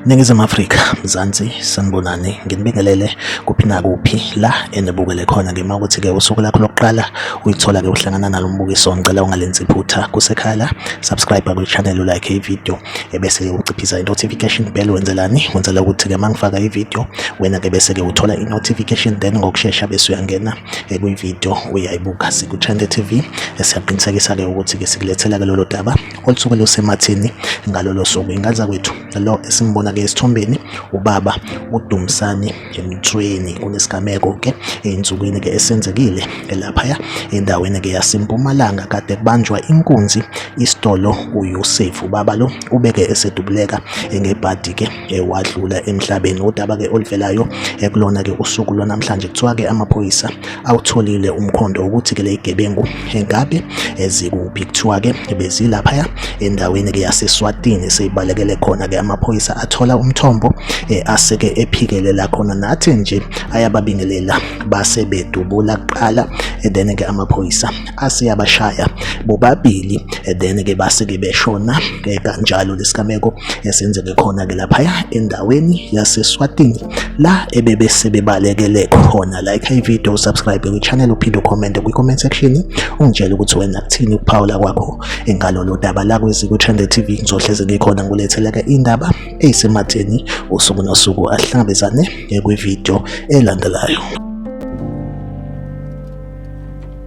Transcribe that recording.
Ningizimu Afrika, Mzansi, sanibonani, nginibingelele kuphi nakuphi la enibukele khona ngima ukuthi-ke usuku lakho lokuqala uyithola-ke uhlangana nalo mbukiso, ngicela ungalenzi iphutha kusekhala, subscribe kwi-channel ulike ividiyo. ebese-ke uciphisa i-notification bell wenzelani wenzela ukuthi-ke uma ngifaka ividiyo wena-ke bese-ke uthola i-notification then ngokushesha bese uyangena kwividiyo uyayibuka siku-trende t v esiyaqinisekisa-ke ukuthi-ke sikulethela-ke lolo daba olusuke lusemathini ngalolo suku ingaza kwethu lo esimbona-ke esithombeni ubaba udumisani emthweni kunesigameko-ke ey'nsukwini-ke esenzekile elaphaya endaweni-ke yasempumalanga kade kubanjwa inkunzi isitolo uyosef ubaba lo ubeke esedubuleka ngebhadi-ke ewadlula emhlabeni udaba-ke oluvelayo ekulona-ke usuku lwanamhlanje kuthiwa-ke amaphoyisa awutholile umkhondo ukuthi ke lezigebengu engabe ezikuphi kuthiwa ke bezilaphaya endaweni ke yaseSwatini seyibalekele khona ke amaphoyisa athola umthombo eh, aseke ephikelela khona nathi nje ayababingelela base bedubula kuqala eh, then ke amaphoyisa aseyabashaya bobabili eh, then ke base ke beshona kanjalo lesigameko esenzeke khona ke laphaya endaweni yaseSwatini la ebebe sebebalekele khona like i video subscribe kwi channel uphinde ucommente kwi comment section ungitshela ukuthi wena kuthini ukuphawula kwakho engalolo daba la kwezi ku Trend TV ngizohleze ngikhona ngulethela ke indaba eyisematheni usuku nosuku ahlangabezane kwi video elandelayo